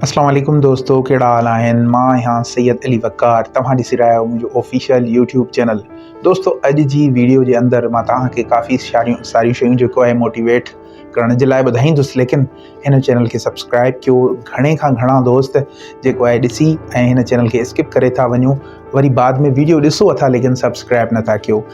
اسلام عليڪم دوستو ڪهڙا حال آهن مان آهيان سيد علي وقار توهان ڏسي رهيا آهيو منهنجو آفيشل يوٽيوب چينل دوستو اڄ جي ويڊيو جي اندر مان توهان کي ڪافي ساريون ساريون شيون جيڪو آهي موٽيويٽ ڪرڻ جي لاء ٻڌائيندس ليڪن هن چينل کي سبسڪرائب ڪيو گهڻي کان گهڻا دوست جيڪو آهي ڏسي ۽ هن چينل کي اسڪپ ڪري ٿا وڃو وري بعد ۾ ويڊيو ڏسو اٿا ليڪن سبسڪرائب نٿا ڪيو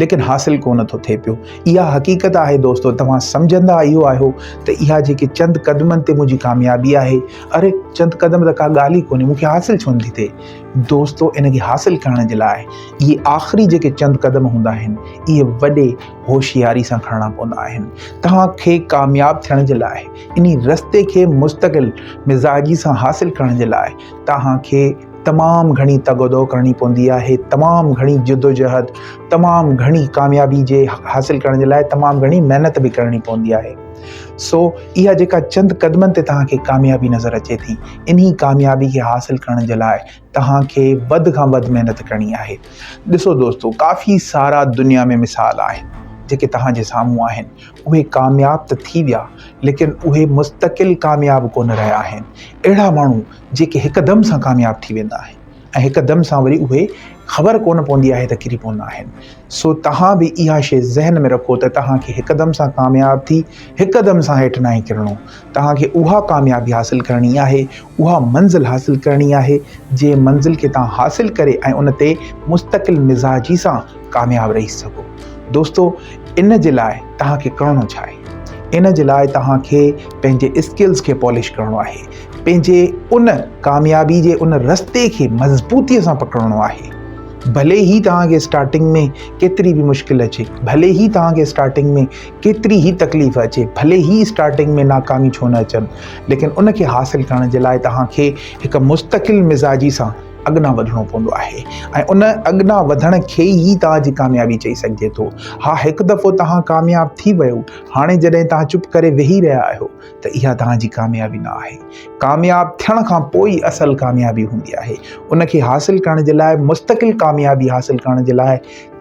ليڪن حاصل ڪونه ٿو ٿئي پيو. اها حقيقت آهي دوستو، توهان سمجهندا اهو آهيو ته اها جيڪي چند قدمن تي منهنجي ڪاميابي آهي، اري چند قدم ته ڪا ڳالهه ئي ڪونهي، مون کي حاصل ڇو نٿي ٿئي؟ دوستو ان کي حاصل ڪرڻ جي لاء اهي آخري جيڪي چند قدم هوندا آهن، اهي وڏي هوشياري سان کڻڻا پوندا آهن. توهان کي ڪامياب ٿيڻ جي لاء انهي رستي کي مستقل مزاجي سان حاصل ڪرڻ جي لاء توهان کي. تمام گهڻي تگ و دو ڪرڻي پوندي آهي، تمام گهڻي جدوجهد، تمام گهڻي ڪاميابي جي حاصل ڪرڻ جي لاء تمام گهڻي محنت به ڪرڻي پوندي آهي. سو اها جيڪا چند قدمن تي توهان کي ڪاميابي نظر اچي ٿي، انهي ڪاميابي کي حاصل ڪرڻ جي لاء توهان کي وڌ کان وڌ محنت ڪرڻي آهي. ڏسو دوستو ڪافي سارا دنيا ۾ مثال آهن، جيڪي توهان جي سامهون آهن، اهي ڪامياب ته ٿي ويا، ليڪن اهي مستقل ڪامياب ڪونه رهيا آهن. اهڙا ماڻهو جيڪي هڪ دم سان ڪامياب ٿي ويندا آهن ۽ هڪ دم سان وري اهي خبر ڪونه پوندي آهي ته ڪري پوندا آهن سو توهان به اها شي ذهن ۾ رکو ته توهان کي هڪ دم سان ڪامياب ٿي هڪ دم سان هيٺ ناهي ڪرڻو توهان کي اها ڪاميابي حاصل ڪرڻي آهي اها منزل حاصل ڪرڻي آهي جنهن منزل کي توهان حاصل ڪري ۽ ان تي مستقل مزاجي سان ڪامياب رهي سگهو دوستو ان جي لاء توهان کي ڪرڻو ڇا آهي ان جي لاء توهان کي پنهنجي اسڪلز کي پالش ڪرڻو آهي پنهنجي ان ڪاميابي جي ان رستي کي مضبوطيء سان پڪڙڻو آهي ڀلي هي توهان کي اسٽارٽنگ ۾ ڪيتري به مشڪل اچي ڀلي هي توهان کي اسٽارٽنگ ۾ ڪيتري هي تڪليف اچي ڀلي هي اسٽارٽنگ ۾ ناڪامي ڇو نه اچن ليڪن ان کي حاصل ڪرڻ جي لاء توهان کي هڪ مستقل مزاجي سان اڳنا وڌڻو پوندو آهي ۽ ان اڳنا وڌڻ کي ئي توهان جي ڪاميابي چئي سگهجي ٿو ها هڪ دفعو توهان ڪامياب ٿي ويو هاڻي جڏهن توهان چپ ڪري ويهي رهيا آهيو ته اها توهان جي ڪاميابي نه آهي. ڪامياب ٿيڻ کان پوء ئي اصل ڪاميابي هوندي آهي. ان کي حاصل ڪرڻ جي لاء، مستقل ڪاميابي حاصل ڪرڻ جي لاء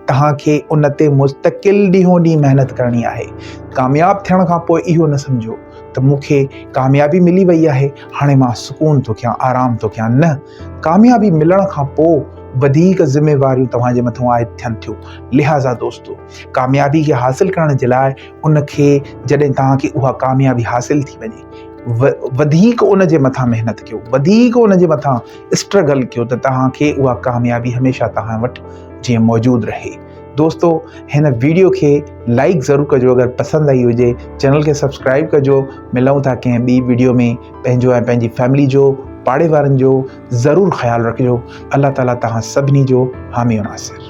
توهان کي ان تي مستقل ڏينهون ڏينهن محنت ڪرڻي آهي. ڪامياب ٿيڻ کان پوء اهو نه سمجهو ته مون کي ڪاميابي ملي وئي آهي، هاڻي مان سڪون ٿو ڪيان، آرام ٿو ڪيان. نه، ڪاميابي ملڻ کان پوء وڌيڪ ذميواريون توهان جي مٿان عائد ٿين ٿيون. لهٰذا دوستو! ڪاميابي کي حاصل ڪرڻ جي لاء، ان کي جڏهن توهان کي اها ڪاميابي حاصل ٿي وڃي وڌيڪ ان جي مٿان محنت ڪيو وڌيڪ ان جي مٿان اسٽرگل ڪيو ته توهان کي اها ڪاميابي هميشه توهان وٽ جيئن موجود رهي دوستو هن ويڊيو کي لائڪ ضرور ڪجو اگر پسند آئي هجي چينل کي سبسڪرائب ڪجو ملون ٿا ڪنهن ٻي ويڊيو ۾ پنهنجو ۽ پنهنجي فيملي جو پاڙي وارن جو ضرور خيال رکجو الله تعاليٰ توهان سڀني جو حامي ناصر